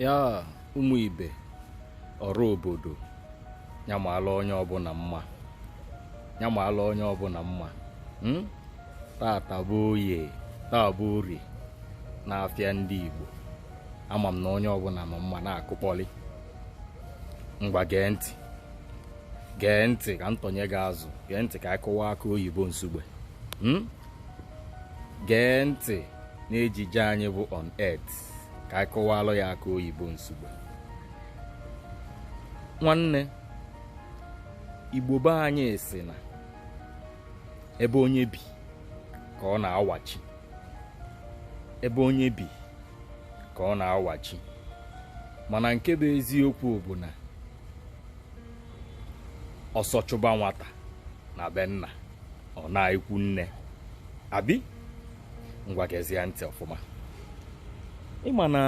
ya ụmụ ibe ọrụ obodo ya malụ onye ọbụla mma ya malụ onye ọbụla mma hmm? tata bụ oye taa bụ orie n'afịa ndị Igbo ama m na onye ọbụla ma mma na-akụkpọli ngwa gee ntị gee ntị ka ntọnye gị azụ gee ntị ka a kụwaa akụ oyibo nsugbe hmm? gee ntị n'ejije anyị bụ on earth ka anyị kụwalụ ya akụ oyibo nsugbe nwanne igbo be anyị sị na ebe onye bi ka ọ na-awachi ebe onye bi ka ọ na-awachi mana nke bụ eziokwu bụ na ọsọ chụba nwata na be nna ọ naa ikwu nne abi ngwa gezie ntị ọfụma ịma na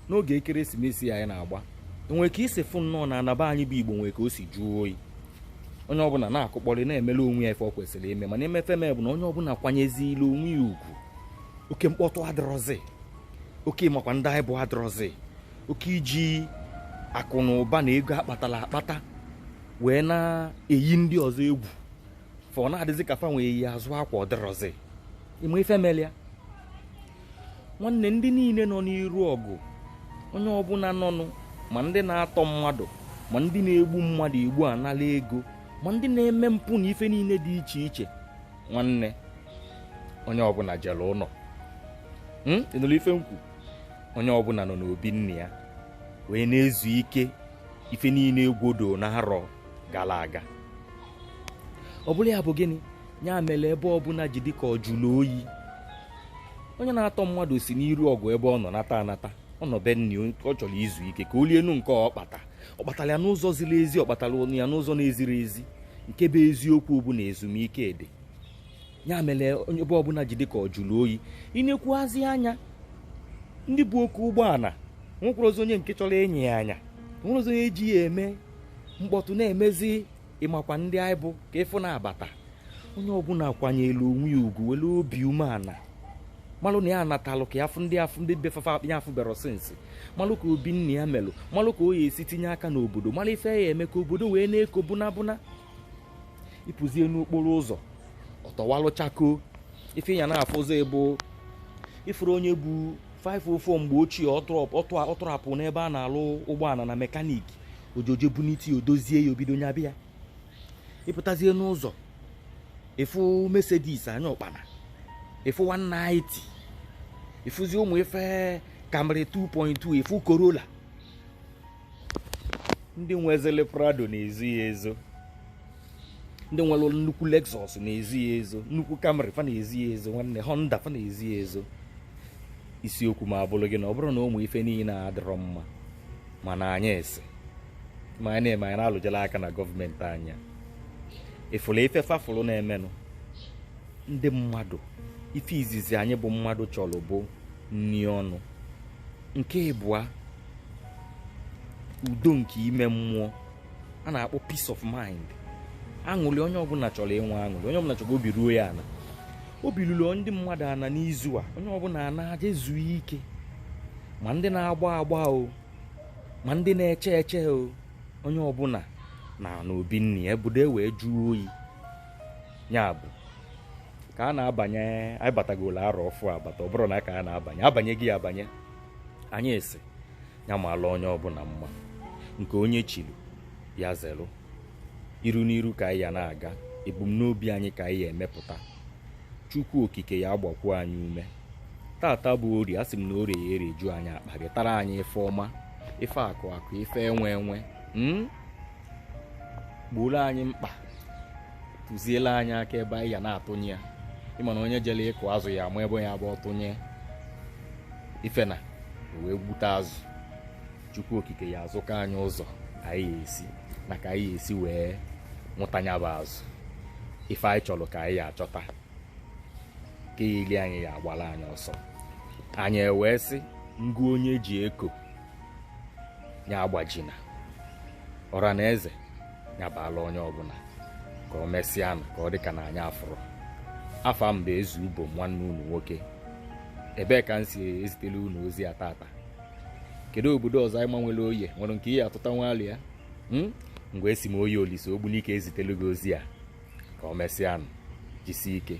n'oge ekeresimesi a anyị na-agba o nwe ka i si fụ nnọọ na ana be anyị bụ igbo nwere ka o si jụọ oyi onye ọbụla na-akụkpọli na-emelụ onwe ya ife ọ kwesịrị ime mana ịma ife mee bụ na onye ọbụla kwanyezila onwe ya ugwu oke mkpọtụ adịrọzi oke ịmakwa ndị anyị bụ adịrọzi oke iji akụ na ụba na ego akpatalụ akpata wee na-eyi ndị ọzọ egwu fa ọ na-adịzi ka fa nwee eyi azụ akwa ọdịrọzi ịma ife melụ ya nwanne ndị niile nọ n'iru ọgụ onye ọbụla nọnụ ma ndị na-atọ mmadụ ma ndị na-egbu mmadụ egbu anala ego ma ndị na-eme mpụ na ife niile dị iche iche nwanne onye ọbụla jelụ ụnọ hmm? ị nụlụ ife m kwu onye ọbụla nọ n'obi nna ya wee na-ezu ike ife niile egwodo na arọ gara aga ọ bụrụ ya bụ gịnị ya mere ebe ọbụla ji dịka ọ jụrụ oyi onye na-atọ mmadụ si n'iru ọgụ ebe ọ nọ nata anata ọ nọ be nna ya ọ chọrọ izu ike ka o lienu nke ọ kpata ọ kpatara ya n'ụzọ ziri ezi ọ kpatara ya n'ụzọ na-ezirọ ezi nke bụ eziokwu bụ na ezumike dị ya mere onye ebe ọbụla ji dịka ọ jụrụ oyi i nekwazi anya ndị bu oke ụgbọala nwekwarọzi onye nke chọrọ ịnya ya anya nwerọzi onye ji ya eme mkpọtụ na-emezi ịmakwa ndị anyị bụ ka ịfụ na-abata onye ọbụla kwanyere onwe ya ugwu were obi umeala malụ na ya anatalụ ka ya fụ ndị afụ ndị be fa fa ya afụberọ since malụ ka obi nna ya melụ malụ ka ọ ya-esi tinye aka n'obodo malụ ife ya eme ka obodo wee na-eko bụna bụna ịpụzie n'okporo ụzọ ọ tọwalụ chakoo ife ị ya na-afụzi bụ ịfụrụ onye bu 504 mgbe ochie ọ tọrapụ n'ebe a na-alụ ụgbọala na mekaniki ojoje bunite ya o dozie ya o bido nyaba ya ịpụtazie n'ụzọ ịfụ mercedes anya ụkpana ịfụ 190 ịfụzi ụmụ ife camry 2.2 ịfụ corolla ndị nwezili prado na-ezo ya ezo ndị nwere nnukwu lexus na-ezo ya ezo nnukwu camry fa na-ezo ya ezo nwanne honda fa na-ezo ya ezo isiokwu m abụrụ gị na ọ bụrụ na ụmụ ife niile adịrọ mma mana anyị sị ma anyị na-eme anyị na-alụjela aka na gọọmenti anya ịfụrụ ife fa fụrụ na-emenụ ndị mmadụ ife izizi anyị bụ mmadụ chọrọ bụ nni ọnụ nke ịbụa udo nke ime mmụọ a na-akpọ peace of mind aṅụrị onye ọbụla chọrọ inwe aṅụrị onye ọbụla chọrọ obi ruo ya ana obi lụrụ ndị mmadụ ana n'izu a onye ọbụla anaa je zuo ike ma ndị na-agba agba o ma ndị na-eche eche o onye ọbụla naa n'obi nne ya ebudo e wee jụọ oyi ya bụ ka a na-abanye anyị batagolo arọ ọfụụ abata ọ bụrụ na ka a na-abanye abanye gị abanye anyị sị ya maala onye ọbụla mma nke onye chilu ya zelu iru n'iru ka anyị ya na-aga ebumnobi anyị ka anyị ya emepụta chukwu okike ya agbakwu anyị ume tata bụ orie asị m na orie ya ereju anyị akpa gị tara anyị ife ọma ife akụ akụ ife enwe enwe mm? gbooro anyị mkpa tụziela anyị aka ebe anyị ya na-atụnye ya ịma na onye jere ịkụ azụ ya ama ebe ọ ya abụ ọ tụnye ife na o wee gbute azụ chukwu okike ya azụka anyị ụzọ anyị ya esi na ka anyị ya esi wee nwụta ya bụ azụ ife anyị chọrọ ka anyị ya achọta nke ya eli anyị ya agbara anyị ọsọ anyị ewee sị ngụ onye ji eko ya agbajina ọra na eze ya baala onye ọbụla ka o mesịa nụ ka ọ dị ka na anyị afụrụ afa m bụ ezu ubo nwanne unu nwoke ebee ka m si ezitela unu ozi a tata kedu obodo ọzọ anyị ma nwere oye nwere nke ihe atụta nwali ya ngwa esi m oye olisa ogbunike ezitelu gị ozi a ka o mesịa nụ jisie ike